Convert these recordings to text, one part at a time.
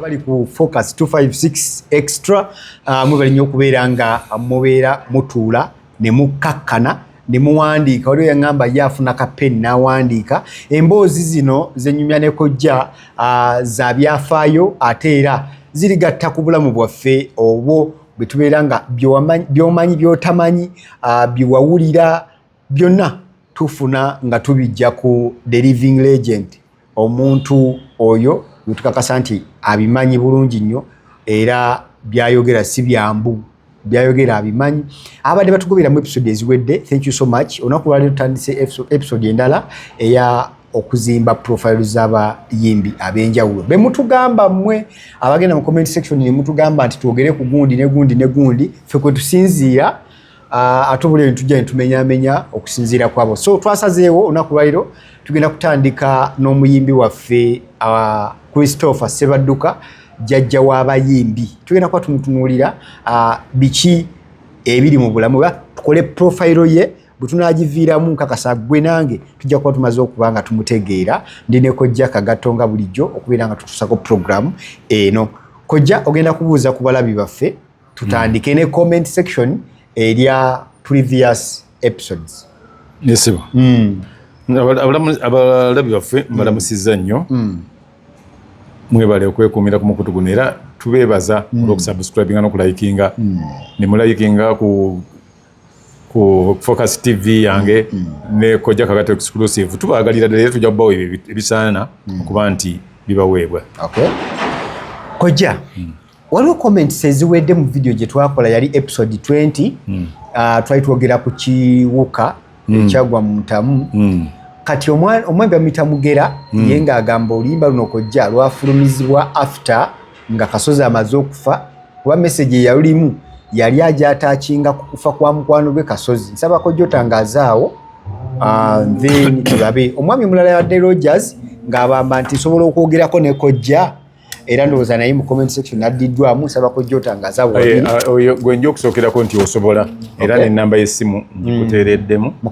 abali ku focus 256 extra uh, mwebali nnyo okubeera nga mubeera mutuula ne mukkakkana ne muwandiika waliwo yaŋŋamba ye afuna ka peni n'awandiika emboozi zino zenyumya ne kojja uh, za byafaayo ate era zirigatta ku bulamu bwaffe obwo bwe tubeera nga byomanyi byotamanyi uh, byewawulira byonna tufuna nga tubijja ku the living legend omuntu oyo wetukakasa nti abimanyi bulungi nnyo era byayogera si byambu byayogera abimanyi abadde batugoberamu episode eziwedde thank you so much olunaku lwaliro tutandise episode endala eya okuzimba profile z'abayimbi ab'enjawulo be mutugamba mmwe abagenda mu comment section ne mutugamba nti twogere ku gundi ne gundi ne gundi ffe kwe tusinziira Ah, ate obulio nitujja nitumenyamenya okusinziira kwabo so twasazeewo olunaku lwaliro tugenda kutandika n'omuyimbi waffe ah, christopher sebadduka jajja w'abayimbi tugenda kuba tumutunuulira ah, biki ebiri mu bulamu ba tukole profayiro ye bwe tunaagiviiramu nkakasa gwe nange tujja kuba tumaze okuba nga tumutegeera ndi ne kojja kagato nga bulijjo okubeera nga tutusako puroguramu eno kojja ogenda kubuuza ku balabi baffe tutandike ne comment section erya previous episodes nesibo mm. abalabi baffe mm. mbalamusiza nnyo mm. mwebale okwekuumira ku mukutu guno era tubeebaza mm. olwokusubscribinga nokulayikinga mm. nemulayikinga ku ku focus tv yange mm. mm. ne koja kagato exclusive tubagalira dala era tujja kubawa ebisaana mm. okuba nti bibaweebwa okay. koja mm. waliwo comments eziwedde mu video gye twakola yali episode 20 mm. uh, twali twogera ku kiwuka mm. ekyagwa mu mutamu mm. kati omwami bamuyita mugera mm. ye ng'agamba oluyimba luno kojja lwafulumizibwa after nga kasozi amaze okufa kuba message eyalulimu yali ajatakinga ku kufa kwa mukwano gwe kasozi nsaba kojja otangazaawo uh, then tulabe omwami omulala yadde rogers ng'abamba nti nsobola okwogerako ne kojja era ndowooza naye mu comment section addiddwamu nsaba kojja otangaza eh, ah, oyo gwe nja okusookerako nti osobola era okay. nenamba yessimu ngikuteereddemu mm.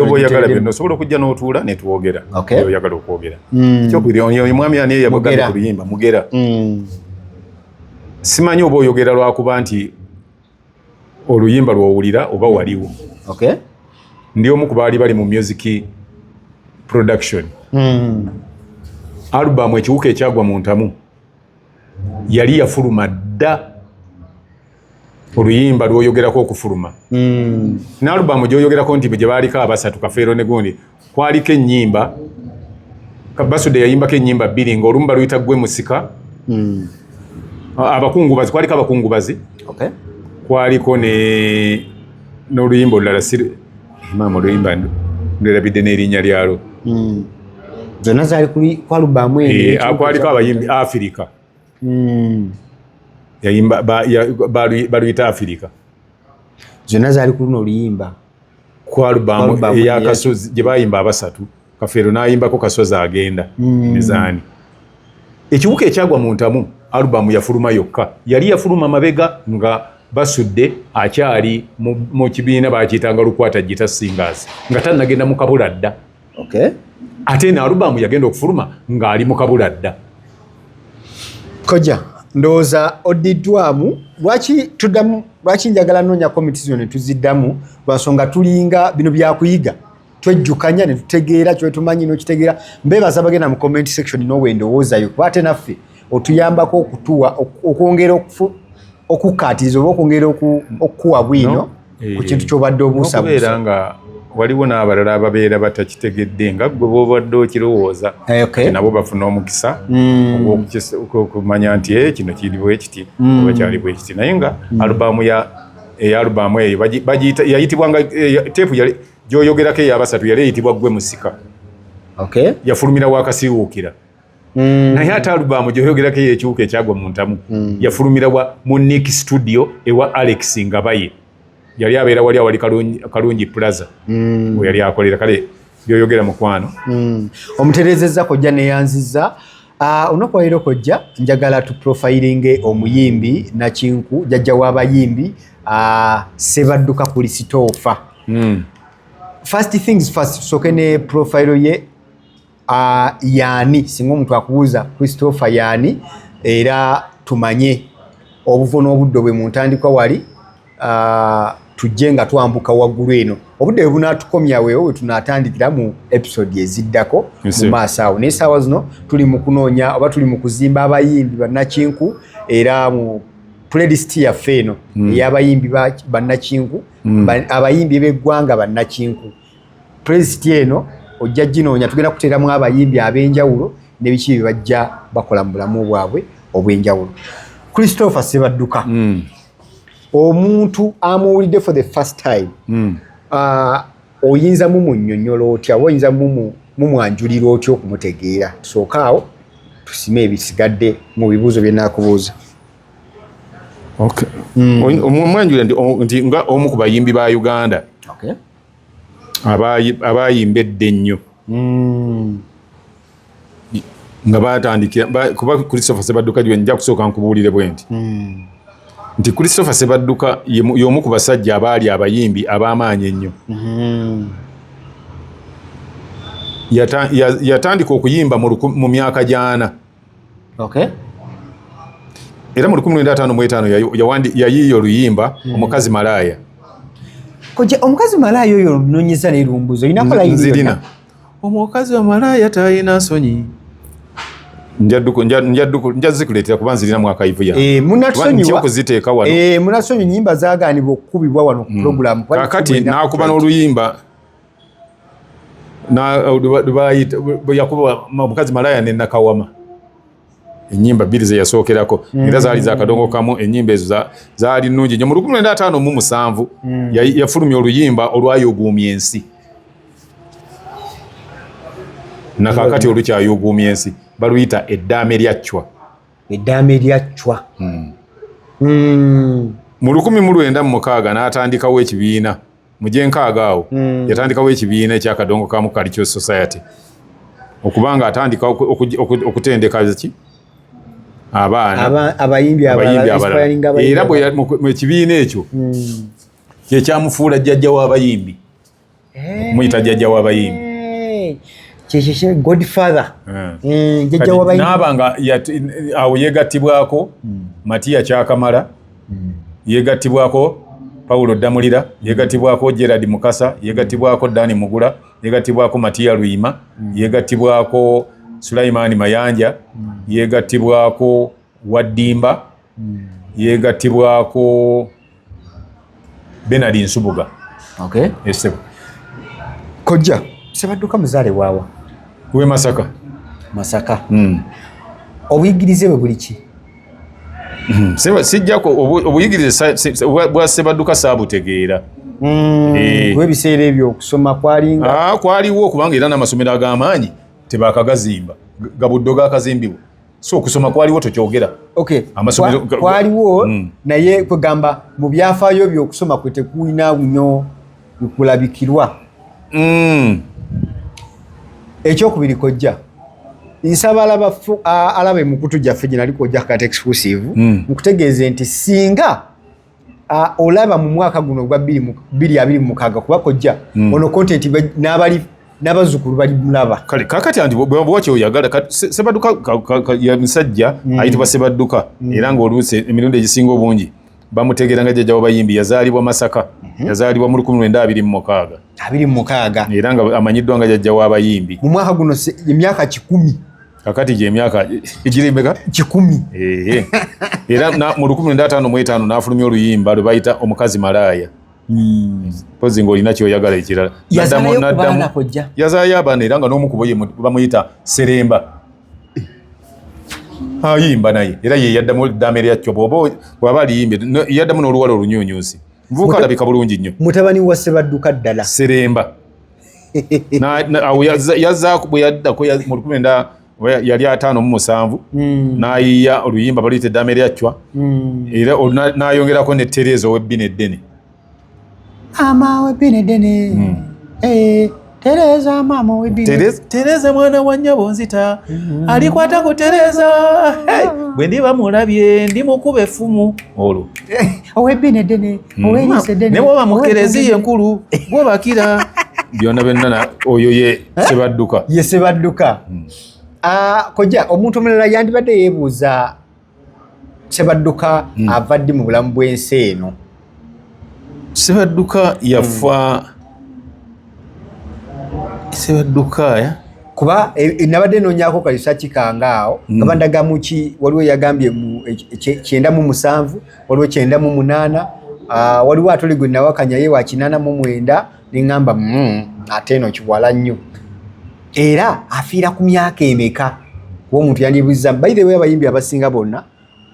oba oyagala byonna osobola okujja n'otuula netwogera okay. oyagala okwogera mm. kyokubiri oyo mwami ani eyabagana ku luyimba mugera mm. simanyi oba oyogera lwakuba nti oluyimba lwowulira oba mm. waliwo okay. ndi omu ku baali bali mu music production mm. alubamu ekiwuka ekyagwa mu ntamu yali yafuluma dda oluyimba lwoyogerako okufuluma mm. naalubamu gyoyogerako nti gye baaliko abasatu kafeero negundi kwaliko ennyimba Basude yayimbako ennyimba bbiri ng'olumu baluyita gwe musika hmm. abakungubazi kwaliko abakungubazi kwaliko ne n'oluyimba olulala maama oluyimba nderabidde n'erinnya lyalwo hmm. zonna zaali kwalubaamu eh, kwaliko abayimbi afirika hmm. yayimba baluyita afirika zonna zaali ku luno oluyimba ku alubamu eyakasozi gye bayimba abasatu kafeero nayimbako kasozi agenda mm. mizaani ekiwuka ekyagwa mu ntamu alubamu yafuluma yokka yali yafuluma mabega nga basudde akyali mu kibiina baakiyitanga lukwata gita singers nga tannagenda mu kabula dda okay. ate eno alubamu yagenda okufuluma ng'ali mu kabula dda koja ndowooza oddiddwamu lwaki tuddamu lwaki njagala noonya komiti zino ne tuziddamu lwansonga tulinga bino byakuyiga twejjukanya ne tutegeera kyotumanyi n'okitegeera mbeebaza bagenda mu comment section noowe endowoozayo kuba ate naffe otuyambako okutuwa okwongera okukkaatiriza oba okwongera okukuwa bwino no. eh, ku kintu kyobadde obuusabuusa nga waliwo n'abalala ababeera batakitegedde nga gwe bobadde okirowooza eh, okay. nabo bafuna omukisa mm. okumanya nti eh, kino kiri bwekiti mm. oba kyali bwekiti naye nga mm. alubaamu ya eyalubaamu eyo bagiyita yayitibwa nga teepu yali gyoyogerako eyabasatu yali eyitibwa gwe musika okay. yafulumira wakasiwuukira Mm. naye ate alubamu gyoyogerako eyo ekiwuka ekyagwa mu ntamu mm. yafulumira wa mu nik studio ewa alex ngabaye yali abeera wali awali kalungi plaza mm. yali akolera kale byoyogera mukwano mm. omuterezeza kojja neyanziza ah, olunaku walero kojja njagala tuprofilinge omuyimbi nakinku jajja wabayimbi ah, sebadduka kulisitoofa mm. first things first tusoke ne profile ye uh, yaani singa omuntu akubuuza christopher yaani era tumanye obuvo n'obuddo bwe mu ntandikwa wali uh, tujje nga twambuka waggulu eno obudde bwe bunaatukomya weewo we tunaatandikira mu episode eziddako mu maaso awo naye saawa zino tuli mu kunoonya oba tuli mu kuzimba abayimbi bannakinku era mu playlist yaffe eno mm. ey'abayimbi bannakinku mm. abayimbi b'eggwanga bannakinku puleziti eno ojja ginoonya tugenda kuteeramu abayimbi ab'enjawulo nebiki bye bajja bakola mu bulamu bwabwe obw'enjawulo christopher sebadduka mm. omuntu amuwulidde for the first time mm. uh, oyinza mumunyonyola otya oba oyinza mumwanjulira otya okumutegeera tusooka awo tusime ebisigadde mu bibuuzo byenakubuuza okay. mm. omwanjulira nti nga omu ku bayimbi ba uganda okay. abaayimba edda ennyo hmm. nga batandikira kuba christopher sebadduka gye nja kusooka nkubuulire bwe nti hmm. nti christopher sebadduka y'omu ku basajja abaali abayimbi ab'amaanyi ennyo hmm. yatandika okuyimba mu myaka gyana Okay. Era mu lukumi lwenda ataano mu etaano yayiiya oluyimba hmm. omukazi malaaya. Kojja omukazi malaaya oyo olunonyeza ne lumbuzo olina kola yini? Nzirina. Omukazi wa malaaya talina nsonyi. Njadduko njadduko njazikuleetera kuba nzirina mwaka ivu ya. Eh, munatusonyiwa. Kuziteeka wano. Eh, munatusonyiwa nyimba zaagaanibwa okukubibwa wano ku hmm. program. Kakati naakuba n'oluyimba yakuba omukazi malaya ne nakawama enyimba bbiri zeyasookerako mm. era zaali zakadongo kamu enyimba ezo zaali nungi nyo mu lukumi lwenda ataano mu musanvu mm. yafulumya oluyimba olwayoguumya ensi nakakati olukyayoguumya ensi baluyita eddaame lya cwa eddaame lya cwa mm. mu lukumi mu lwenda mu mukaaga n'atandikawo ekibiina mu gyenkaaga awo mm. yatandikawo ekibiina ekya kadongo kamu cultural society okuba nga atandika okutendeka ki abaana abayimbi abalala era mu ekibiina ekyo mm. kyekyamufuula jjajja w'abayimbi eh. muyita jjajja w'abayimbi eh. kyekyo godfather eh. jjajja w'abayimbi naaba nga awo yegattibwako mm. matiya kyakamala yeegattibwako Paulo Ddamulira, yeegattibwako Gerard Mukasa, yeegattibwako Dani Mugula, yeegattibwako Matiya Luyima, mm. yeegattibwako Sulayimaani Mayanja, mm. yeegattibwako Waddimba, mm. yeegattibwako Benard Nsubuga. Okay. Esebo. Kojja, sebadduka muzaale waawa? We Masaka. Masaka. Mm. Obuyigirize bwe buli ki? Hmm, sijjako obuyigirize bwa sebadduka saabutegeera hmm, eh. ebiseera ebyo okusoma kwalinga ah, kwaliwo kubanga era n'amasomero ag'amaanyi tebakagazimba gabuddo gakazimbibwa so okusoma kwaliwo tokyogera kwaliwo hmm. naye kwegamba mu byafaayo byokusoma kwe tekulina nyo kulabikirwa mm. ekyokubiri kojja nsaba alaba alaba emukutu gyaffe gye nali kojja kat exclusive mm. nkutegeeze nti singa olaba mu mwaka guno ogwa bbiri abiri mu mukaaga kuba kojja mm. ono kontenti n'abali n'abazzukulu bali mulaba kale kakati anti bwewakyo oyagala sebadduka misajja mm. ayitibwa sebadduka mm. era ng'oluusi emirundi egisinga obungi bamutegeera nga jjajja wabayimbi yazaalibwa masaka mhm. yazaalibwa mu lukumi lwenda abiri mumukaaga abiri mumukaaga era nga amanyiddwa nga jjajja wabayimbi mu mwaka guno emyaka kikumi kakati gyemyaka egiremeka kikumi era mu lukumi lwenda ataano mu etaano n'afulumya oluyimba lwe bayita omukazi malaaya hmm. pozi ngaolina kyoyagala ekirala yazaayo abaana era nga n'omu kubo bamuyita seremba ayimba naye era ye yaddamu eddaame lyakyo bwoba bwaba aliyimbe yaddamu n'oluwala olunyunyusi nvuuka alabika bulungi nnyo mutabani wa sebadduka ddala seremba yazaako bwe yaddako mu lukumi enda yali ataano mu musanvu hmm. n'ayiya oluyimba baluyita eddaame lyacwa hmm. era n'ayongerako ne tereeza ow'ebbina eddene Ama we bine dene. Mm. Eh, Tereza mama we bine. Tereza, Tereza mwana wa nyabo nzita. Mm. Alikwata ku Tereza. Hey, bwe ndiba mulabye ndi mukube fumu olwo. Eh, owe bine dene. Mm. Owe lise dene. Ne baba mukerezi yenkulu. Gwo bakira. Byona benana oyo ye eh? sebadduka. Ye sebadduka. Mm. Ah, koja omuntu omulala yandibadde yebuuza Sebadduka mm. ava ddi mu bulamu bw'ensi eno? Sebadduka yafa mm. Sebadduka ya kuba e, e, nabadde nonyako kalisa kikanga awo mm. kaba ndagamu ki waliwo yagambye mu e, kyenda mu musanvu waliwo kyenda mu munaana uh, waliwo atuli gwe nawakanya ye wa kinana mu mwenda neŋamba mm, ate eno kiwala nnyo era afiira ku myaka emeka kuba omuntu yandibuzza by the way abayimbi abasinga bonna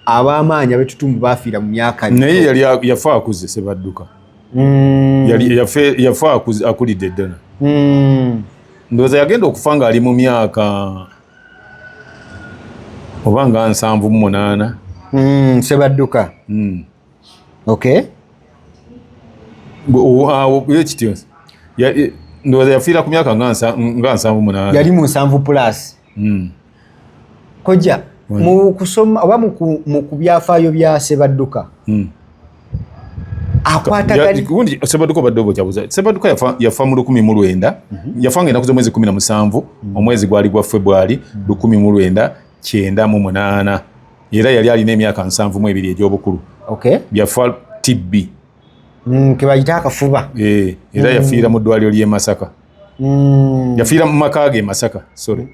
abamaanyi abetutumbu bafiira mu myaka naye yali yafa akuze sebadduka mm. yafa akulidde eddala mm. ndowooza yagenda okufa ng'ali mu myaka oba nga nsanvu mu munaana mm, sebadduka mm. okay yo kityo ndowooza yafiira ku myaka nga nsanvu munaana yali mu nsanvu plus hmm. kojja mu kusoma oba mu byafaayo bya sebadduka hmm. akwatagandi sebaduka obadde obokyabuza sebaduka yafa, yafa mu lukumi mu lwenda mm -hmm. yafa nga enaku z'omwezi kumi na musanvu mm -hmm. omwezi gwali gwa febwali mm -hmm. lukumi mu lwenda kyenda mu munaana era yali alina emyaka nsanvu mu ebiri egy'obukulu byafa tibbi mm, kebayita akafuba eh, era mm. yafiira mu ddwaliro ly'e masaka mm. yafiira mu maka ge masaka sorry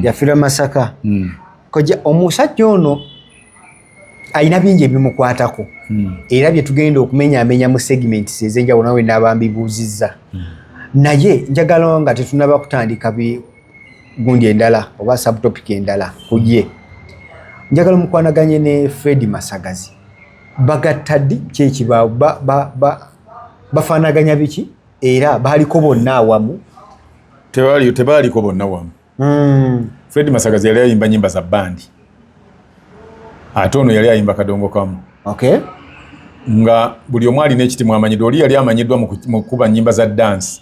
yafiira masaka koja omusajja ono alina bingi ebimukwatako era bye tugenda okumenyaamenya mu segments ez'enjawulo nawe naabambibuuzizza naye njagala nga tetunaba kutandika gundi endala oba subtopic endala kuye njagala mukwanaganye ne fredi masagazi bagatta ddi kyekibaawo bafaanaganya biki era baliko bonna awamu tebaaliko bonna wamu hmm. fredi masagazi yali ayimba nyimba za bandi ate ono yali ayimba kadongo kamu okay. nga buli omu alina ekiti mwamanyiddwa oli yali amanyiddwa mu kukuba nyimba za dansi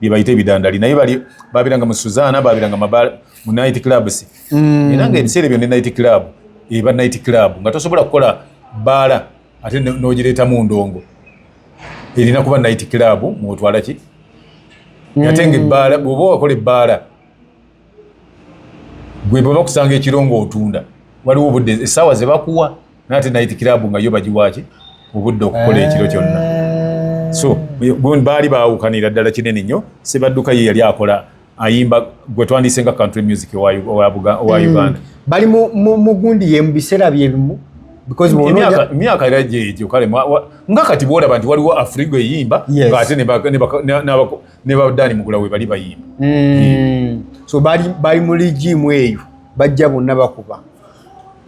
bye bayita ebidandali naye bali babiranga mu Suzana babiranga mu night clubs mm. era nga ebiseera ebyo ne night club eba night club nga tosobola kukola baala ate n'ogireeta mu ndongo erina kuba night club mwotwala ki mm. ate nga ebbaala bwoba wakola ebbaala gwe bwe bakusanga ekiro ng'otunda waliwo obudde essaawa ze bakuwa naye ate nayiti kiraabu nga yo bagiwaaki obudde okukola ekiro kyonna so baali baawukanira ddala kinene nnyo sebadduka ye yali akola ayimba gwe twandise nga country music owa mm. uganda bali mugundi ye mu biseera byebimu emyaka era gyegyo kale nga kati bwolaba nti waliwo afrigo eyimba ngaate ne ba Dani Mugula we bali bayimba mm. so bali bali mu ligi mu eyo bajja bonna bakuba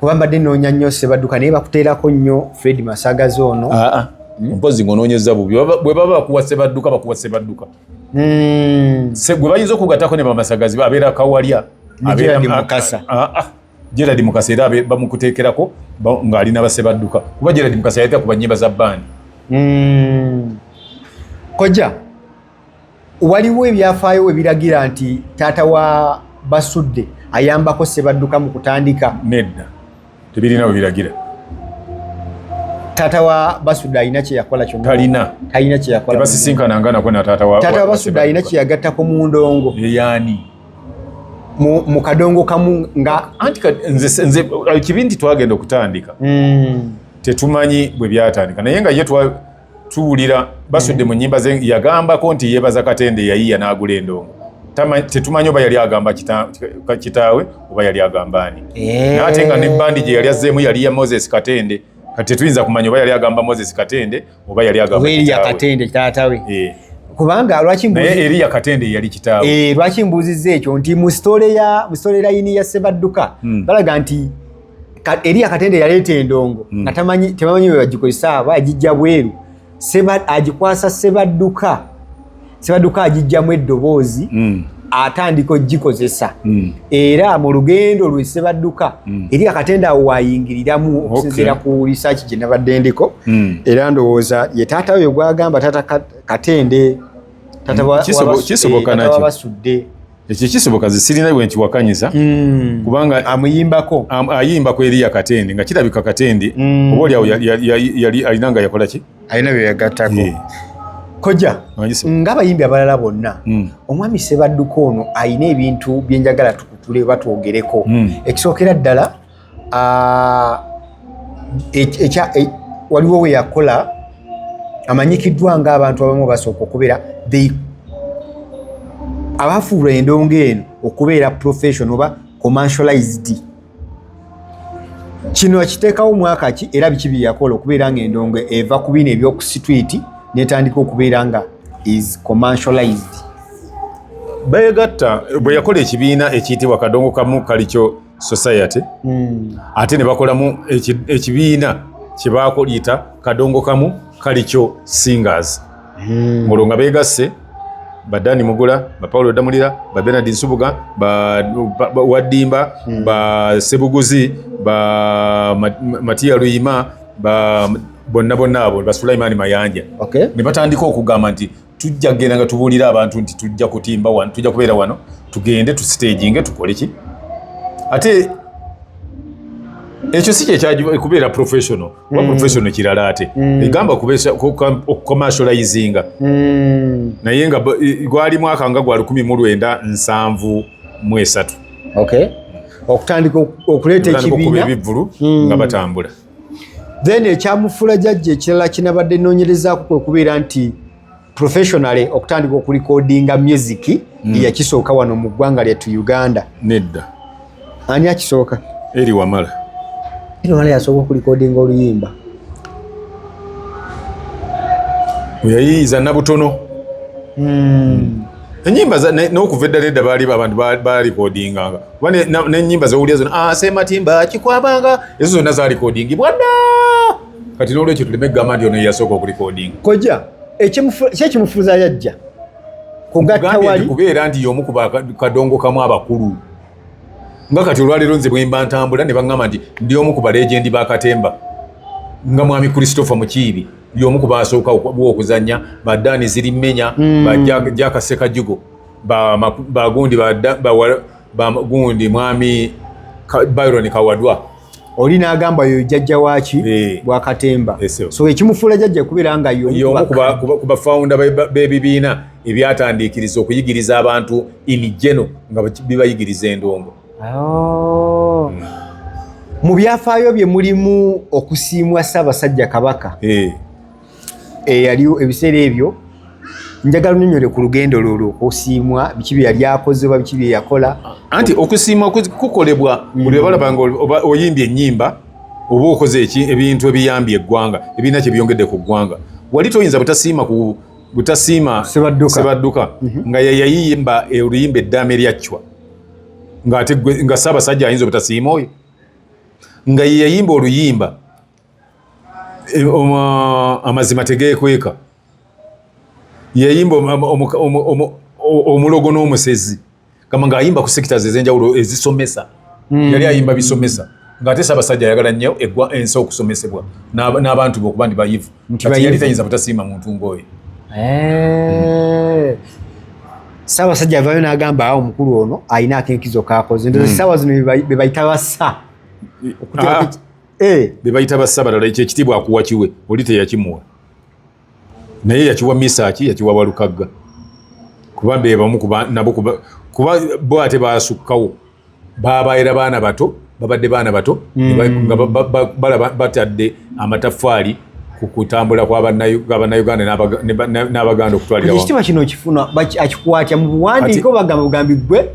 kuba mbadde noonya nnyo Sebadduka naye bakuteerako nnyo Fred Masagazi ono ah, ah. Hmm? mpozi ngonoonyeza bubi bwe baba bakuwa Sebadduka bakuwa Sebadduka mm. gwe bayinza okugatako ne bamasagazi abeera kawalya abeera mukasa ah, ah. Gerald Mukasa era bamukuteekerako ng'ali na base badduka kuba Gerald Mukasa yayita ku bannyimba za bandi hmm. kojja waliwo ebyafaayo ebiragira nti taata wa basudde ayambako sebadduka mu kutandika nedda tebirina we biragira taata wa basudde alina kyeyakola kyonatalina talina kyeyakola basisinkana nga nako na taata wa basudde alina kyeyagattako mu ndongo eyani mu kadongo kamu nga anti nze kibi nti twagenda okutandika hmm. tetumanyi bwe byatandika naye nga ye tuwulira basudde mu nyimba ze yagambako nti yebaza katende yayiya n'agula endongo tetumanyi oba yali agamba kitaawe oba yali agamba ani eh. naate nga ne bandi gye yali azzeemu yali ya moses katende kati tetuyinza kumanya oba yali agamba moses katende oba yali agamba Eliya Katende taatawe eh. kubanga lwaki mbuzi naye Eliya Katende yali kitaawe eh lwaki mbuzize ekyo nti mu story ya mu story line ya Sebadduka hmm. balaga nti ka, Eliya Katende yaleeta endongo hmm. natamanyi tebamanyi bwe bagikozesa aba ajijja bweru Sebad ajikwasa Sebadduka sebaduka agijjamu eddoboozi mm. atandika ogikozesa mm. era mu lugendo lwe sebaduka mm. eri akatenda awo wayingiriramu okusinziira ku risaaki gye nabadde ndiko era ndowooza ye taata oyo gwagamba taata katende tataabasudde eh, ekyo kisoboka zisirina bwe nkiwakanyiza mm. kubanga amuyimbako am, ayimbako eriya katende nga kirabika katende mm. oba olyawo yali alina nga yakola ki alina byeyagatako yeah. koja ngabayimbi abalala bonna mm. omwami sebadduka ono alina ebintu byenjagala tukutule oba twogereko mm. ekisookera ddala e, waliwo weyakola amanyikiddwa nga abantu abamu basooka okubeera abafuula endongo eno okubeera profession oba commercialized kino akiteekawo mwaka ki era biki bye yakola okubeera nga endongo eva ku bino ebyokusitwiti netandika okubeera nga is commercialized beyegatta bwe yakola ekibiina ekiyitibwa kadongo kamu kalikyo society mm. ate ne bakolamu ekibiina kye baakuyita kadongo kamu kalikyo singers hmm. olwo nga beegasse ba dani mugula ba paulo damulira ba benard nsubuga ba waddimba hmm. ba sebuguzi ba matiya luyima ba bonna bonna abo ba sulaimaani mayanja ne batandika okugamba nti tujja kugenda nga tubuulira abantu nti tujja kutimba wano tujja kubeera wano tugende tusiteginge tukole ki ate ekyo si kyekubeera professional kuba hmm. professional kirala ate hmm. egamba okucommercializinga hmm. naye nga gwali mwaka nga gwa lukumi mu lwenda nsanvu mu esatu okutandika okuleeta ekibiina ebivvulu nga batambula then ekyamufula jajja ekirala kinabadde noonyerezaako kwe kubeera nti professionally okutandika okulikodinga music mm. yakisooka wano mu ggwanga lyettu uganda nedda ani akisooka eri wamala eri wamala yasooka okulikodinga oluyimba weyayiyiza nabutono mm. enyimba nokuva eddala edda baali abantu balikodinganga kuba nenyimba zowulira zona asematimba ah, kikwabanga ezo zonna zalikodingibwa ddaa kati nolwekyo tuleme kugamba nti ono yeyasooka okulikodinga koja kyekimufuza yajja kugattawalikubeera nti yomu kubakadongo kamu abakulu nga kati olwaleero nze bwemba ntambula ne baŋŋamba nti ndi omu ku balegendi ba katemba nga mwami christopher mukiibi yomu ku basooka okuzanya badaani ziri mmenya hmm. bajakasekajugo bagundi bagundi mwami byron kawadwa oli nagamba yo jajja waki eh. bwa katemba eh, so ekimufula jajja kubera nga yo yo kuba kuba founder be bibina ebyatandikiriza okuyigiriza abantu in general nga bibayigiriza endongo oh hmm. mu byafayo bye mulimu okusimwa saba sajja kabaka eh eyaliwo eh, ebiseera ebyo njagala onyonyole ku lugendo lwolwo okusiimwa biki bye yali akoze oba biki bye yakola anti okusiimwa kukolebwa buli obalaba nga oyimbye ennyimba oba okoze eki ebintu ebiyambye eggwanga ebirina kye byongedde ku ggwanga wali toyinza butasiima ku butasiima sebadduka mhm. nga yeyayimba oluyimba eddaama eryaccwa nga ssaabasajja ayinza obutasiima oyo nga yeyayimba oluyimba e, um, uh, amazima tegekweka yayimba omulogo n'omusezi kama nga ayimba ku sectors ezenjawulo ezisomesa mm. yali ayimba bisomesa ngaate sabasajja ayagala nnyo egwa ensi okusomesebwa n'abantu be okuba ndi bayivu kati yali tayinza butasiima muntu ng'oyo eh. sabasajja avayo n'agamba awo omukulu ono alina akenkizo kakoze ndozi hmm. sawa zino bebayita bassa ah. eh. be bayita bassabalala ekyo ekitiibwa akuwa kiwe oli teyakimuwa naye yakiwa misaaki yakiwa walukagga kuba bebamu nabo kuba bo ate basukkawo babaera baana bato babadde baana bato mm. balaba batadde amataffaali ku kutambula kwabanauganda n'abaganda okutwalira ekitiibwa kino okifuna akikwatya mu buwandiiko bagamba bugambi gwe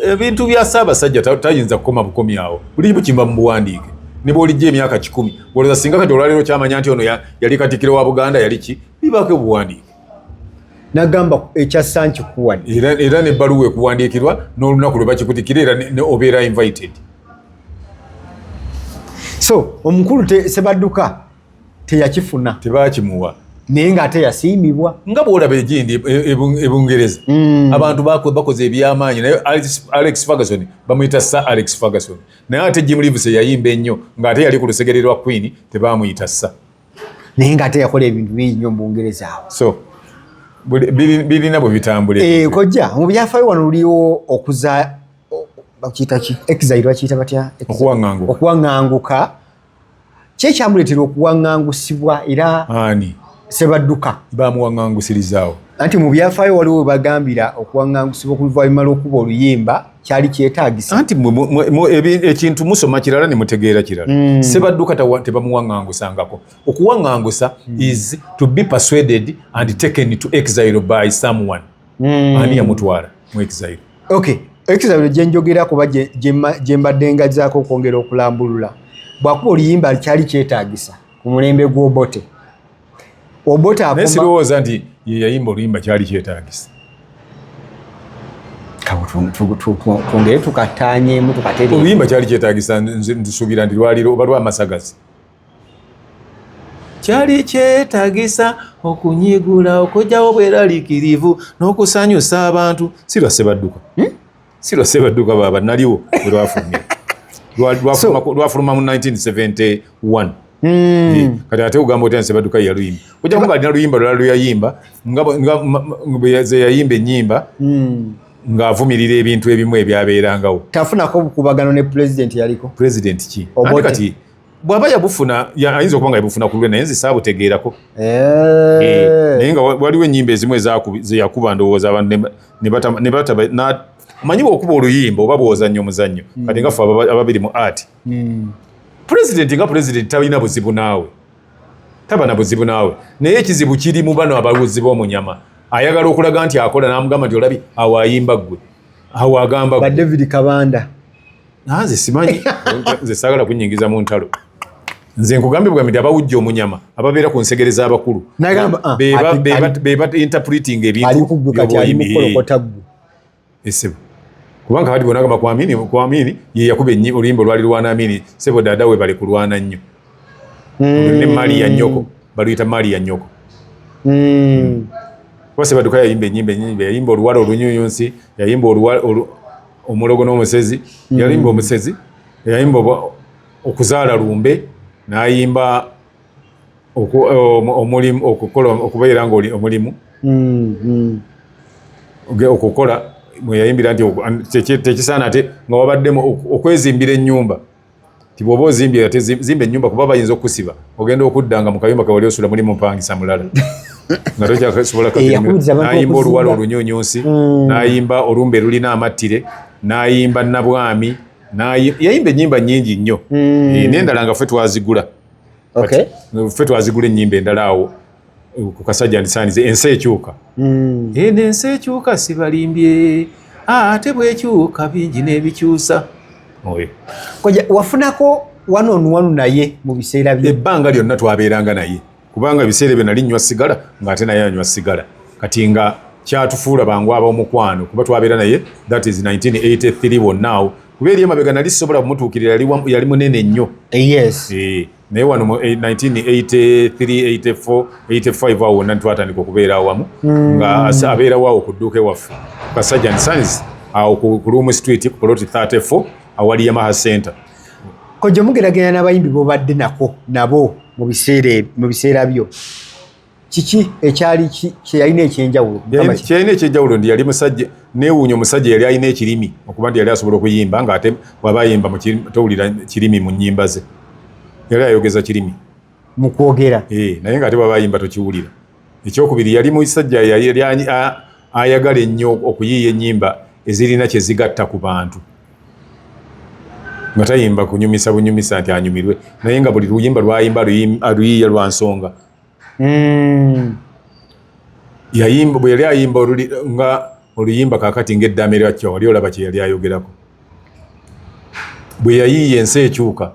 ebintu bya ssaabasajja tayinza kukoma bukomi awo buli kimu kimba mu buwandiike ne bwolijja emyaka kikumi olowooza singa kati olwaleero kyamanya nti ono yali katikiro wa buganda yali ki bibaako obuwandiike nagamba ekyassa nkikuwadi era nebbaluwa ekuwandiikirwa n'olunaku lwe bakikutikira era obeera invited so omukulu sebadduka teyakifuna tebakimuwa naye nga ate yasiimibwa nga bwolaba egindi e, e, e bungereza mm. abantu bakoze ebyamaanyi naye alex ferguson bamuyita sa alex ferguson naye ate jim leaves yayimba ennyo ngaate yali ku lusegere lwa queen tebamuyita sa naye ngaate yakola ebintu bingi nyo mubungereza awo so birina bwe bitambula eh, kojja mu byafayo wano luliwo okuza bakiyita ki exile bakiyita batya okuwaŋanguka kye kyamuleetera okuwaŋŋangusibwa era ani sebadduka bamuwaŋŋangusirizaawo anti mu byafaayo waliwo webagambira okuwaŋŋangusibwa okuluvaanyuma lw'okuba oluyimba kyali kyetagisa anti ekintu musoma kirala ne mutegeera kirala mm. sebadduka tebamuwaŋŋangusangako okuwaŋŋangusa mm. is to be persuaded and taken to exile by someone mm. ani yamutwala mu exile okay exile gyenjogera kuba gyembadde ngazaako okwongera okulambulula bwakuba oluyimba kyali kyetagisa ku mulembe gw'obote obote naye sirowooza nti yeyayimba oluyimba kyali kyetagisa twongere tukatanyemu tukateoluyimba kyali kyetagisa nsuubira nti lwaliro oba lwamasagazi kyali kyetagisa okunyigula okujjawo bweralikirivu n'okusanyusa abantu sirwa sebadduka hmm? sirwa sebadduka baba naliwo erwafulumye lwafuluma mu 1971 hmm. kati ate ogamba otya sebadduka yeyaluyimba ojja kuba alina luyimba lulala luyayimba zeyayimba ennyimba hmm. ng'avumirira ebintu ebimu ebyabeerangawo tafunako obukubagano ne pulezidenti yaliko pulezidenti ki kati bwaba yabufuna ayinza okuba nga yabufuna ku lulwe naye nze saabutegeerako eh. Eh, naye nga waliwo ennyimba ezimu ezeyakuba ndowooza abantu omanyi bwokuba oluyimba oba bwozannyo omuzannyo hmm. kati nga fe ababiri mu art hmm. pulezidenti nga pulezidenti talina buzibu naawe taba na buzibu naawe naye ekizibu kiri mu bano ababuzi b'omunyama ayagala okulaga nti akola n'amugamba nti olabi awo ayimba ggwe awo agamba gwe david kabanda nanze simanyi nze sagala kunyingiza mu ntalo nze nkugambye bwamiti abawujja omunyama ababeera ku nsegere z'abakulu ah, beba interpreting ebintuoyimiriesebo eh, kubanga kati bona agamba kwamini kwamini yeyakuba enyi oluyimba olwali lwana amini sebo dada we bali kulwana nnyo hmm. ne mali ya nyoko baluyita mali ya nyoko hmm. kuba sebaduka yayimba enyimba enyimba yayimba oluwala olunyuyunsi yayimba oluwala omulogo n'omusezi mm. yalimba omusezi yayimba okuzaala lumbe nayimba omulimu okukola okubeera nga omulimu mm, mm. okukola mweyayimbira nti tekisaana ate nga wabaddemu okwezimbira ennyumba ti bwoba ozimbye ate zimba enyumba kuba bayinza okusiba ogenda okudda nga mukayumba kawali osula muli mupangisa mulala nga tokyasobola nayimba oluwala olunyunyunsi mm. nayimba olumba elulina amattire nayimba nabwami yayimba enyimba nyingi nnyo mm. eh, nendala nga fe twazigula fe twazigula enyimba endala awo ku kasajja ndisaanize ensi ekyuka hmm. eh, eno ensi ekyuka sibalimbye ah, ate bwekyuka bingi n'ebikyusa oyo koja wafunako wano onwanu naye mu biseera bye ebbanga lyonna twabeeranga naye kubanga ebiseera ebyo nali nywa sigala ng'ate naye anywa sigala kati nga kyatufuula bangu abaomukwano kuba twabeera naye that is 1983 wonnaawo kuba eri emabega nali sisobola kumutuukirira yali munene nnyo eh, yes. e. naye wano mu 1983-84-85 awo wonna ntwatandika okubeera awamu hmm. nga abeerawo awo ku dduuka ewaffe kasajan sons awo ku luumu street ku poloti 34 awali yamaha center kojja mugeragerana n'abayimbi bobadde nako nabo mu biseera byo kiki ekyali kyeyalina ekyenjawulo kyeyalina ekyenjawulo ndi yali musajja newuunya omusajja yali alina ekirimi okuba nti yali asobola okuyimba nga ate waba ayimba towulira kirimi mu nyimba ze yali ayogeza kirimi mukwogera eh, naye nga ate waba ayimba tokiwulira ekyokubiri yali musajja yali ayagala ennyo okuyiiya enyimba ezirina kyezigatta ku bantu nga tayimba kunyumisa bunyumisa nti anyumirwe naye nga buli luyimba lwayimba aluyiiya lwa nsonga mm. yayimba bwe yali ayimba nga oluyimba kakati ng'eddaama eryakya wali olaba kye yali ayogerako bwe yayiiya ensi ekyuka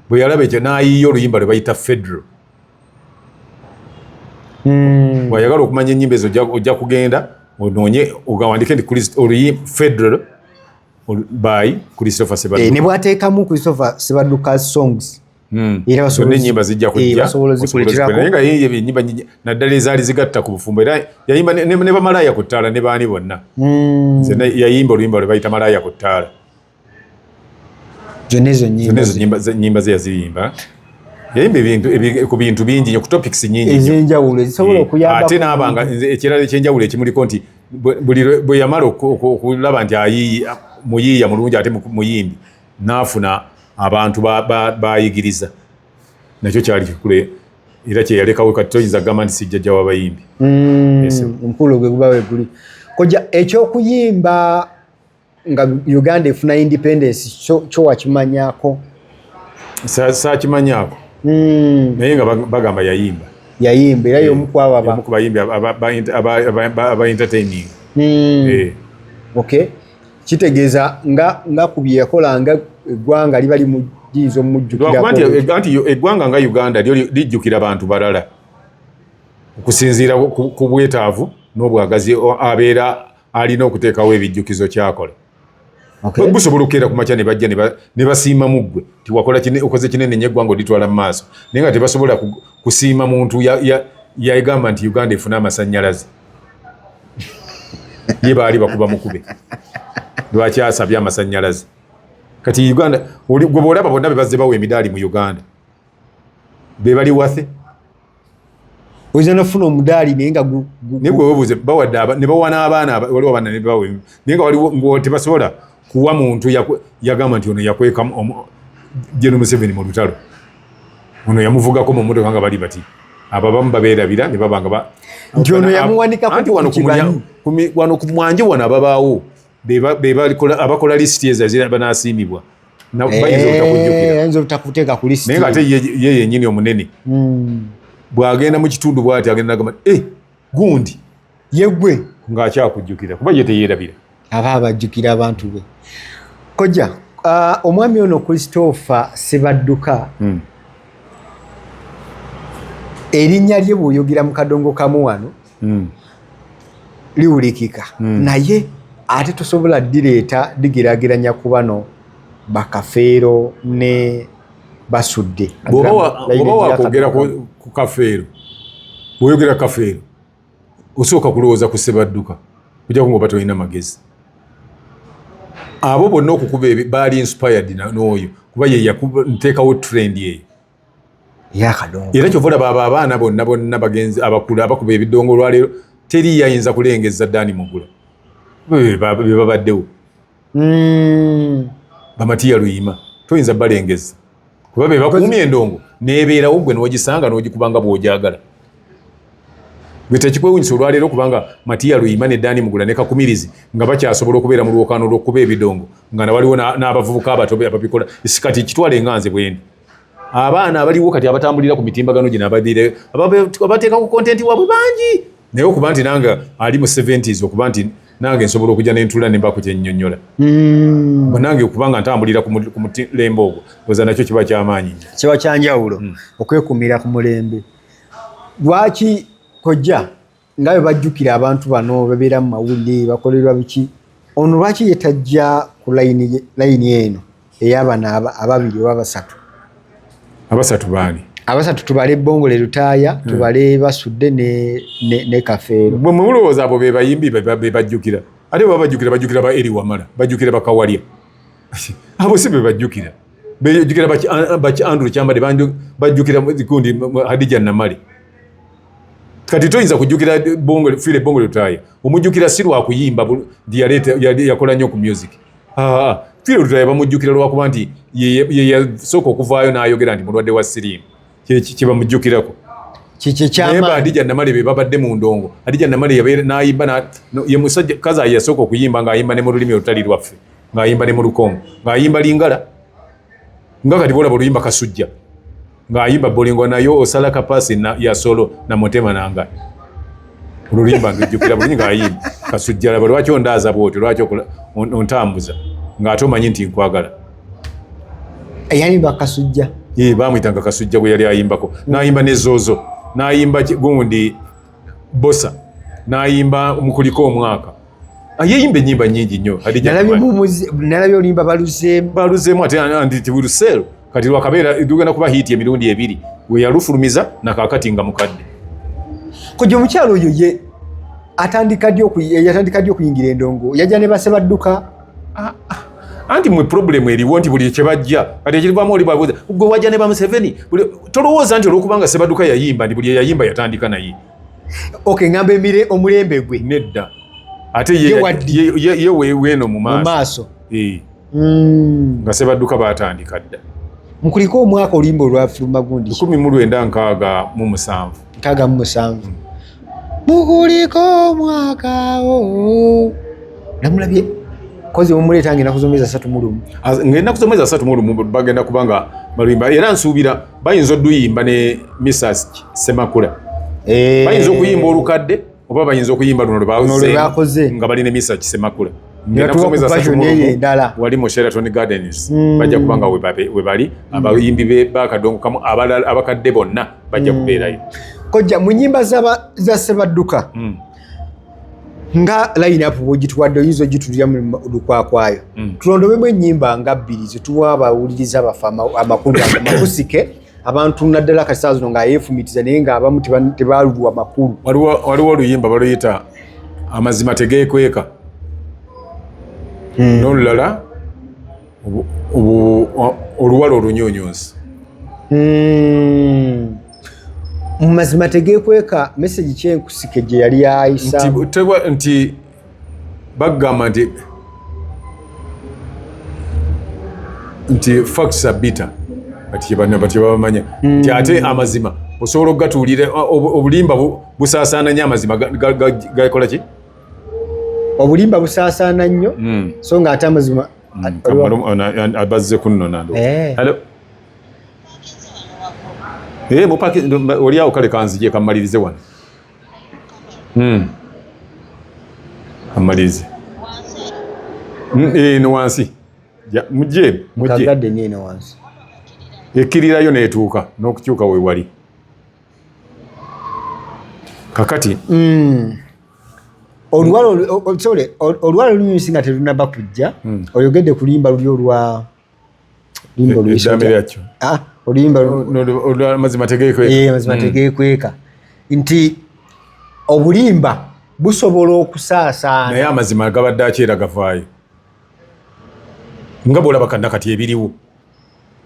bwe yalaba ekyo n'ayiiya oluyimba lwe bayita federo hmm. bwayagala okumanya ennyimba ezo ojja kugenda onoonye ogawandike nti federo by christopher sebadduka eh, ne bwateekamu christopher sebadduka songs Hmm. era enyimba zijja kujjanaye nga yeye enyimba nyingi naddala ezaali zigatta ku bufumbo era yayimba ne bamalaaya ku ttaala ne baani bonna hmm. zena yayimba oluyimba lwe bayita malaaya ku ttaala zonna ezo nyimba ze yaziyimba yayimba ku bintu bingi nyo ku topics nyingi ezenjawulo ezisobola hmm. okuyamba ate naabanga ekirala ekyenjawulo ekimuliko nti bwe yamala okulaba nti ayiiya muyiiya mulungi ate muyimbi n'afuna abantu bayigiriza ba, ba nakyo kyali kikule era kyeyalekawo kati toyinza kugamba nti sijjajja wabayimbi mm, omukulu gwe guba weguli koja ekyokuyimba nga uganda efuna independence kyo wakimanyako sakimanyako mm. naye nga bagamba yayimba yayimba era yomukuababayimbi eh, aba entertaining mm. eh. okay kitegeeza nga nga ku bye yakola nga eggwanga liba limuyinza omumujjukiranti e- e- eggwanga nga uganda lyo lijjukira bantu balala okusinziira ku bwetaavu n'obwagazi abeera alina okuteekawo ebijjukizo kyakola busobola okukeera ku makya ne bajja ne basiima mu ggwe ti wakola okoze kinene nyo eggwanga olitwala mu maaso naye nga tebasobola kusiima muntu yagamba nti uganda efune amasannyalaze ye baali bakuba mukube lwaki asabye amasanyalaze kati uganda gwe bwolaba bonna bebazze bawa emidaali mu uganda bebali wathe oyinza nafuna omudaali naye nga naye gwe webuuze bawadde ne bawa n'abaana waliwo abaana nebawa naye nga waliwo ngo tebasobola kuwa muntu yagamba nti ono yakweka jeno museveni mu lutalo ono yamuvugako mu motoka nga bali bati abo abamu babeerabira ne baba nga nti ono yamuwanikakoanti wano ku mwanje wano ababaawo abakola lisiti ezo banasiimibwa eh, naye nga ate ye yenyini omunene hmm. bwagenda mu kitundu bwati agenda nagamba eh, gundi yegwe nga akyakujjukira kuba ye teyerabira aba abajjukira abantu be koja uh, omwami ono christopher sibadduka hmm. erinnya lye bwoyogera mu kadongo kamu wano hmm. liwulikika hmm. naye ate tosobola direeta digerageranya ku bano bakafeero ne basudde bwoba wakwogera ku kafeero bwoyogera kafeero osooka kulowooza ku sebadduka kujako ngaoba tolina magezi abo bonna okukuba baali inspired nooyo kuba yeyakuteekawo trend eyo era kyova olaba abo abaana bonna bonna bagenzi abakulu abakuba ebidongo olwaleero teri yayinza kulengeza dani mugula bebabaddewo hmm. bamatiya luyima toyinza balengeza kuba be bakuumye endongo nebeerawo gwe nogisanga nogikubanga bwojagala gwe tekikwewunyisa olwaleero kubanga matiya luyima ne dani mugula ne kakumirizi nga bakyasobola okubeera mu lwokaano lwokukuba ebidongo nga nawaliwo n'abavubuka abato ababikola sikati kitwala enganze bwendi abaana abaliwo kati abatambulira ku mitimbagano gino abadire abateeka ku kontenti wabwe bangi naye okuba nti nanga ali mu 70s okuba nti nange nsobola okujja nentula nemba ku kyennyonnyola mm. banange okuba nga ntambulira ku mulembe ogwo oza nakyo kiba kyamaanyi nyo kiba kyanjawulo mm. okwekumira ku mulembe lwaki kojja nga bwe bajjukira abantu bano babeera mu mawulire bakolerwa biki ono lwaki yetajja ku layini eno eyabana ababiri oba basatu abasatu baani abasatu tubale bongole lutaaya hmm. tubale basudde ne kafeero bwe mulowooza abo bebayimbi bebajjukira ate baba bajjukira bajjukira ba eri wamala bajjukira bakawalya abo si bebajjukira bejjukira baki andrew kyambade bajjukira kundi hadija namale kati toyinza kujjukira file bongole lutaaya omujjukira si lwakuyimba yakola nnyo ku music Firo Lutaya bamujjukira lwakuba nti ye yasooka okuvaayo n'ayogera nti mulwadde wa siriimu kye bamujjukirako naye ba adija namale be babadde mu ndongo adija namale yabeera n'ayimba ye musajja kaza yasooka okuyimba ng'ayimba ne mu lulimi olutali lwaffe ng'ayimba ne mu lukongo ng'ayimba lingala nga kati bolaba oluyimba kasujja ng'ayimba bolingo nayo osala kapasi na, ya solo na mutema nanga oluluyimba ndujjukira bulungi ng'ayimba kasujja laba lwaki ondaaza bwotyo lwaki ontambuza ng'ate omanyi nti nkwagala yayimba kasujja bamuyitanga kasujja gwe yali ayimbako n'ayimba ne zoozo n'ayimba gundi Bosa nayimba mukulika omwaka ah, yeyimba enyimba nyingi nyo nalabye olimba baluzemu baluzemu ate anditi will sell kati lwakabeera tugenda kuba hiiti emirundi ebiri weyalufulumiza nakakati nga mukadde kojja omukyalo oyo ye atandika ddi okuyingira endongo yajja ne basebadduka ah, ah. anti mwe problemu eriwo nti buli kyebajja kati ekirivamu oli babuuza gwe wajja ne bamuseveni tolowooza nti olwokubanga sebaduka yayimba nti buli eyayimba yatandika naye ok ngamba emire omulembe gwe nedda ate ye weeno mu maaso eh. hmm. nga sebaduka batandika dda mukuliko omwaka olimba olwafiruma gundi 1 mu lwenda nkaaga mu musanvu nkaaga mu musanvu mukuliko omwakawo oh. namulabye kozi mumuleeta ngenda kuzomeza satu mulumu ngenda kuzomeza satu mulumu bagenda kubanga baluyimba era nsuubira bayinza oduyimba ne misas semakula eh. bayinza okuyimba olukadde oba bayinza okuyimba luno lwebakoze nga balina emisa kisemakula wali mu sheraton gardens hmm. bajja kuba nga webali hmm. abayimbi bakadongo kamu abakadde bonna bajja hmm. kubeerayo kojja mu nyimba za sebadduka nga lineup bwogituwadde oyinza ogitulira mu lukwakwayo mm. tulondobemu ennyimba nga bbiri zetuwa abawuliriza baffe amakulu amakusike abantu naddala kati saa zino nga yeefumitiza naye nga abamu tebalulwa makulu waliwo oluyimba baluyita amazima tegeekweka hmm. n'olulala oluwala olunyunyunsi hmm. mu mazima tegeekweka mesegi kyenkusike gye yali ayisa nti bagamba nti nti facts are bitter kati kyebabamanya hmm. nti ate amazima osobola okugatuulira obulimba busaasaana nnyo amazima gakola ki obulimba busaasaana nnyo hmm. so nga ate amazima hmm. abazze kunnona eh. eh, oliawo kale kanzije kammalirize wano mm. amalize mm, eh, no wansi muje mujekagade nyeno wansi ekirirayo netuuka n'okukyuka wewali kakati mm. olwala olwala olunyusi nga terunaba kujja mm. oyogedde kulimba luli olwa Limbo eh, luisho. Damiri acho. Ah, olimba. Olimba mazima tegekweka. Eh, mazima mm. tegekweka. Nti obulimba busobola okusaasaana. Naye amazima agabadde akyera gavaayo. Nga bw'olaba kanna kati ebiriwo.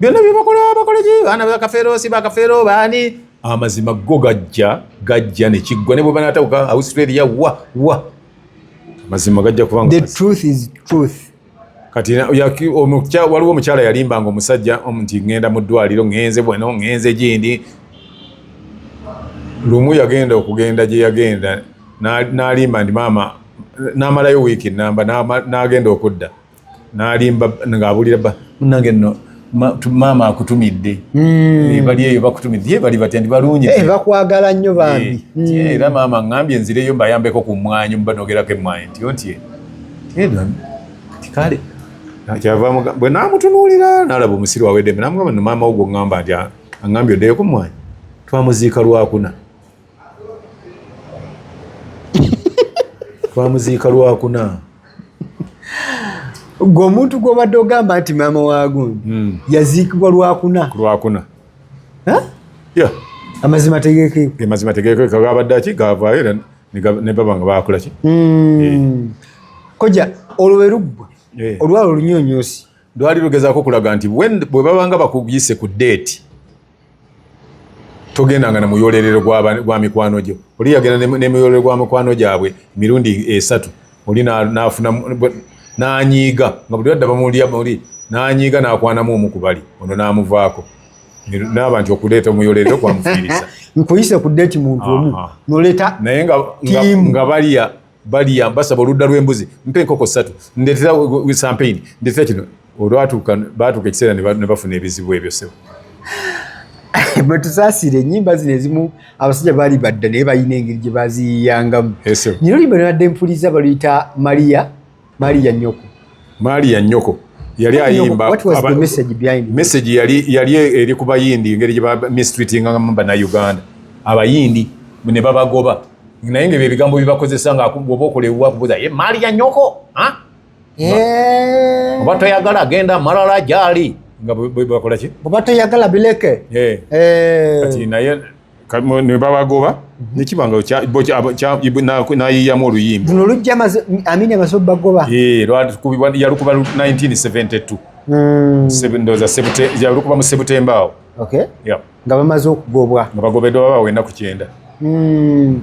Byonna bye bakola bakola ki baana bakafeero si bakafeero baani. Amazima go gajja gajja ne kiggwa ne bwe banaatawuka Australia wa wa. Amazima gajja kubanga. The truth is truth. kati waliwo omukyala yalimbanga omusajja nti ŋŋenda mu ddwaliro ŋŋenze bweno ŋŋenze gindi lumu yagenda okugenda gye yagenda n'alimba nti maama n'amalayo wiiki nnamba n'agenda okudda n'alimba ng'abulira bba munange nno maama akutumidde hmm. eh, bali eyo bakutumidde ye bali batya ndi balungi eh, bakwagala nnyo bambi eh, hmm. era maama aŋambye nzireyo mbayambeko ku mmwanyi mubanogerako emmwanyi nti onti kale bwe namutunuulira nalaba omusiru awedemu namugamba no maama wo gwoŋŋamba nti aŋambye oddeyoko mmwanyi twamuziika lwakuna twamuziika lwakuna gwe omuntu gwobadde ogamba nti maama wagundi hmm. yaziikibwa lwakuna lwakuna amazima tegekeamazima tegekeeka gabadde aki gavaayo era ne baba nga bakolaki hmm. eh. koja olwo weruggwa eh. olwalo olunyonyosi lwali lugezako okulaga nti bwe babanga bakuyise ku deeti togendanga na muyolerero gwa mikwano gyo oli yagenda ne muyolerero gwa mikwano gyabwe emirundi esatu oli nafuna nanyiiga nga buli adda bamulya muli nanyiiga nakwanamu omu kubali ono namuvaako naba nti okuleeta omuyolerero kwamufiiriza nkuyise ku deti muntu omu noleta naye nga balya baliya mbasaba oludda lw'embuzi mpa enkoko ssatu ndetera sampeyini ndetera kino olwatuuka baatuuka ekiseera ne bafuna ebizibu ebyo sebo bwetusaasira enyimba zino ezimu abasajja baali badda naye balina engeri gye baziyiyangamu nyina oluyimba nabadde mpuliza baluyita maria mali ya nyoko mali ya nyoko yali ayimba message yali yali eri ku bayindi ngeri gye ba mistreating ngamba na Uganda abayindi ne babagoba naye nga ebigambo bibakozesa nga oba okolewa kubuza ye mali ya nyoko ha eh. oba toyagala genda malala gyali nga bwe bakola ki oba toyagala bileke eh. Eh. kati naye ne babagoba nekiba nga nayiyamu oluyimba luno lujja amini amaze obagoba yalukuba 1972 yalukuba mu sebutemba awo nga bamaze okugobwa nga bagobeddwa baba wenda ku kyenda hmm.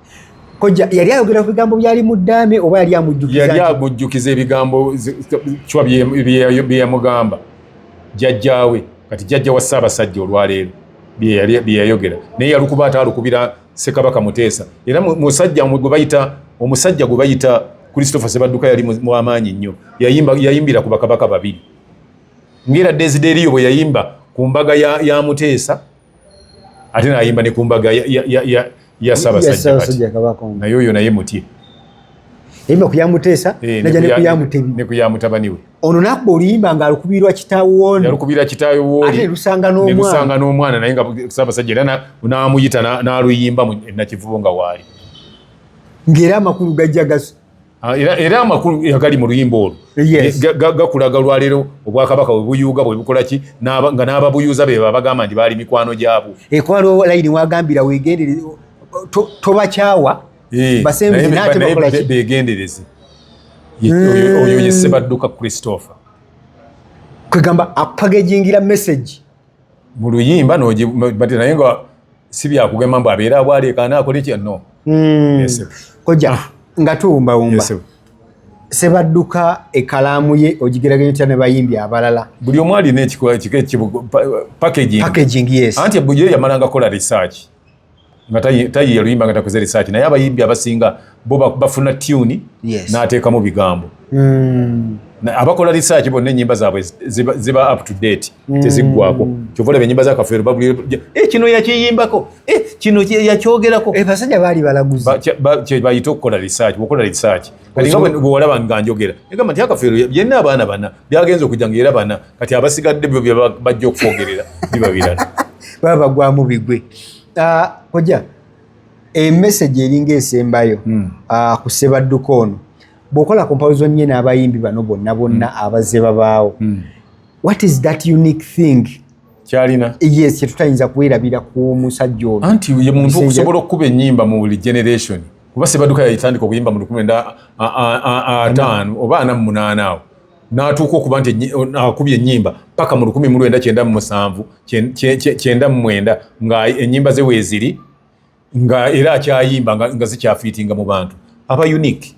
kojja yali ayogera ku bigambo byali mu ddaame oba yali amujjukiza yali agujjukiza ebigambo kiwa bye yamugamba jjajjaawe kati jjajja wa ssaabasajja olwaleero bye yayogera naye yalukuba ate alukubira ssekabaka muteesa era musajja gwe bayita omusajja gwe bayita christopher sebadduka yali muamaanyi nnyo yayimbira ku bakabaka babiri ngaera desideriyo bwe yayimba ku mbaga ya muteesa ate nayimba ne kumbaga ya sabasajja naye oyo naye mutye yayimba kuyamuteesa eh, naja nekuyamutebi nekuyamutabani we ono nakuba oluyimba nga alukubirwa kitaawo nalukubira kitaawe woate lusanga n'omwana n'omwana naye nga sabasajja era namuyita naluyimba nakivubo nga waali ng'era amakulu gajja gasu Ah, era amakulu agali mu luyimba olwo gakulaga olwaleero obwakabaka webuyuuga bwebukolaki nga n'ababuyuuza be babagamba nti baali mikwano gyabwo ekwalo layini wagambira wegendereze tobakyawa eh, begendereze hmm. oyo ye sebadduka christopher kwegamba apagejingira message mu luyimba nogibati naye nga si byakugema mbu abeera abwaleekaana akole kya no hmm. koja ah. nga tuwumbawumba sebadduka ekalaamu ye ogigeraganya otya ne bayimbi abalala buli omu alina ekikola kika packaging yes anti ebujo yamalanga kola research nga tayiya luyimba nga takoze research naye abayimbi abasinga bo bafuna tune yes. n'ateekamu bigambo mm. abakola research bonna enyimba zaabwe ziba, ziba up to date mm. teziggwako kyova olaba enyimba zakafeero bagulira eh, kino yakiyimbako eh, kino yakyogerako eh, basajja baali balaguzi kyebayita okukola research okola research nga bwewalaba nga njogera egamba nti akafeero yenna abaana bana byagenza okujja nga era bana kati abasigadde byo bajja okufoogerera biba birala baba bagwamu bigwe ah, oja emesagi eringa esembayo hmm. ah, ku sebadduka ono bwokola comparison nye n'abayimbi bano bonna bonna hmm. abazze babaawo hmm. what is that unique thing kyalina yes kyetutayinza kuwerabira ku musajja ono anti ye muntu okusobola okukuba enyimba mu buli generation kuba sebaduka yayitandika okuyimba mu lukumi enda ataano oba ana mumunana awo natuuka okuba nti akuba enyimba paka mu lukumi mu lwenda kyenda mumusanvu kyenda mumwenda nga enyimba ze weziri nga era akyayimba nga zikyafiitinga mu bantu aba unique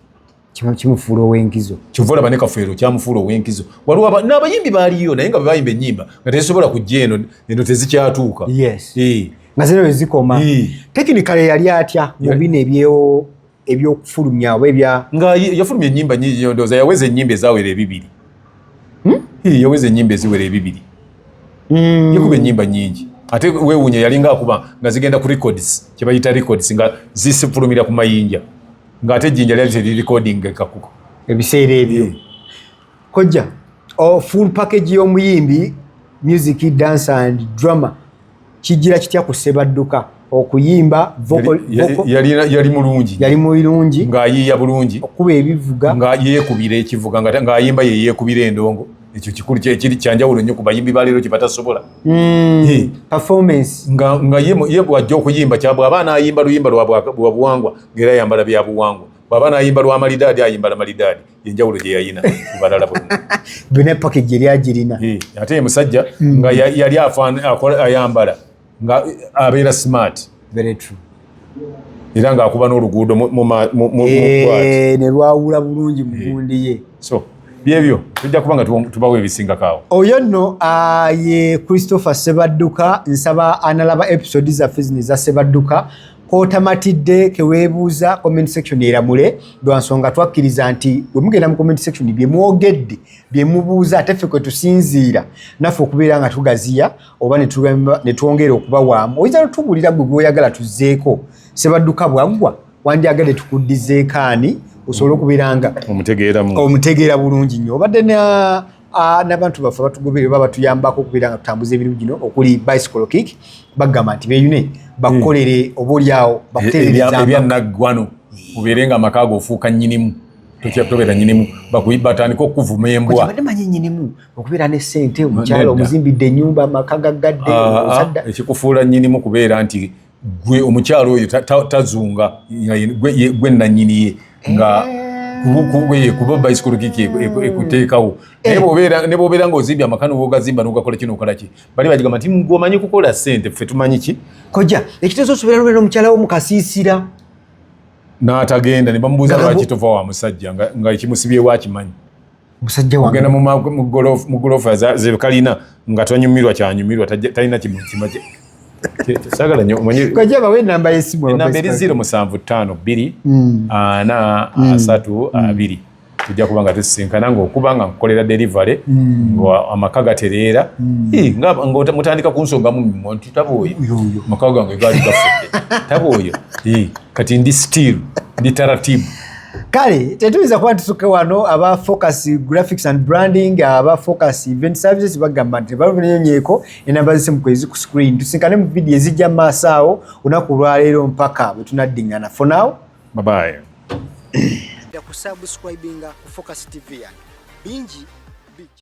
kimufuula ow'enkizo kyova olaba ne kafeero kyamufuula ow'enkizo waliwo n'abayimbi baaliyo naye nga bwe bayimba ennyimba nga tezisobola kujja eno eno tezikyatuuka yes eh. nga zino wezikoma eh. tekinikale yali atya mu bino ebyewo ebyokufulumya oba ebya nga yafulumya ennyimba nyingi ndooza yaweza ennyimba ezawera ebibiri hmm? eh, yaweza ennyimba eziwera ebibiri hmm. yakuba ennyimba nyingi ate wewunya yalinga akuba nga zigenda ku records kyebayita records nga zisifulumira ku mayinja ng'ate ejjinja lyali teririkodingeka kuko ebiseera ebyo eh. kojja oh, full package y'omuyimbi music dance and drama kijira kitya ku sebadduka okuyimba yali mulungi yali mulungi ng'ayiiya bulungi okuba ebivuga nga yeekubira ekivuga ng'ayimba ye yeekubira endongo ekyo kikulu kyekiri kyanjawulo nnyo ku bayimbi baleero kyebatasobola hmm, nga ye bwajja okuyimba kyabwe aba anayimba luyimba lwabuwangwa ngaera yambala byabuwangwa bwaba anayimba lwa malidaadi ayimbala malidaadi yenjawulo gyeyayina kubalala bonna epakage eri agirina ate ye musajja hmm. nga yali ayambala nga abeera smart very true era ng'akuba n'oluguudo eh, ne lwawula bulungi mugundi eh. ye so byebyo tujja kuba nga tubawo ebisingakaawo oyo nno ah, ye christopher sebadduka nsaba analaba episode zaffe zino eza sebadduka kotamatidde kewebuuza comment section eramule lwansonga twakkiriza nti wemugenda mu comment section byemwogedde byemubuuza ate ffe kwetusinziira naffe okubeera nga tugaziya oba ne twongera okubawaamu oyinza notubuulira gwe gwoyagala tuzzeeko sebadduka bwaggwa wandyagadde tukuddizeeko ani osobole okubeeranga omutegeera bulungi nnyo obadde n'abantu baffe abatugobere oba batuyambako okubeera nga tutambuza ebirimu gino okuli bicycle kick bagamba nti beyune bakukolere oba olyawo bakuteereebyannaggwano ubeere nga amaka ago ofuuka nnyinimu tokyatobeera nnyinimu batandike okukuvuma embwa okubeera ne sente omukyalo omuzimbidde enyumba amaka gaggadde ah, ah, ekikufuula nyinimu kubeera nti gwe omukyalo oyo tazunga gwe nanyini ye nga eh. kuba bayisikulu kiki ekuteekawo eh. eh. nebobeera nga ozimbye amaka nobogazimba nogakola kino okolaki bali bagigamba nti ngomanyi kukola sente ffe tumanyi ki koja ekitezo osobera lwera omukyala wo mukasiisira n'atagenda ne bamubuuza lwaki tova wa musajja nga ekimusibyewo akimanyi musajja wange ogenda mu golf mu golf za ze kalina nga tonyumirwa kya nyumirwa talina kimu kima kye sagala nyo omanyi kwa jaba we namba yesimu wa namba eri 075 2 mm. ah, na mm. asatu ah, mm. abiri tujja kuba nga tusisinkana ngaokuba nga nkukolera delivery mm. nga amaka gatereera mm. nga mutandika kunsonga mumimo nti taba oyo amaka gange gaali gafudde taba oyo kati ndi still ndi taratibu kale tetuyinza kuba ntutuke wano aba focus graphics and branding aba focus event services bagamba nti balunyonyeeko enamba zisimu kwezi ku screen tusinkane mu vidiyo ezijja mu maaso awo olunaku olwaleero mpaka bwe tunaddingana for now babaye kusubscribinga ku focus tv yange bingi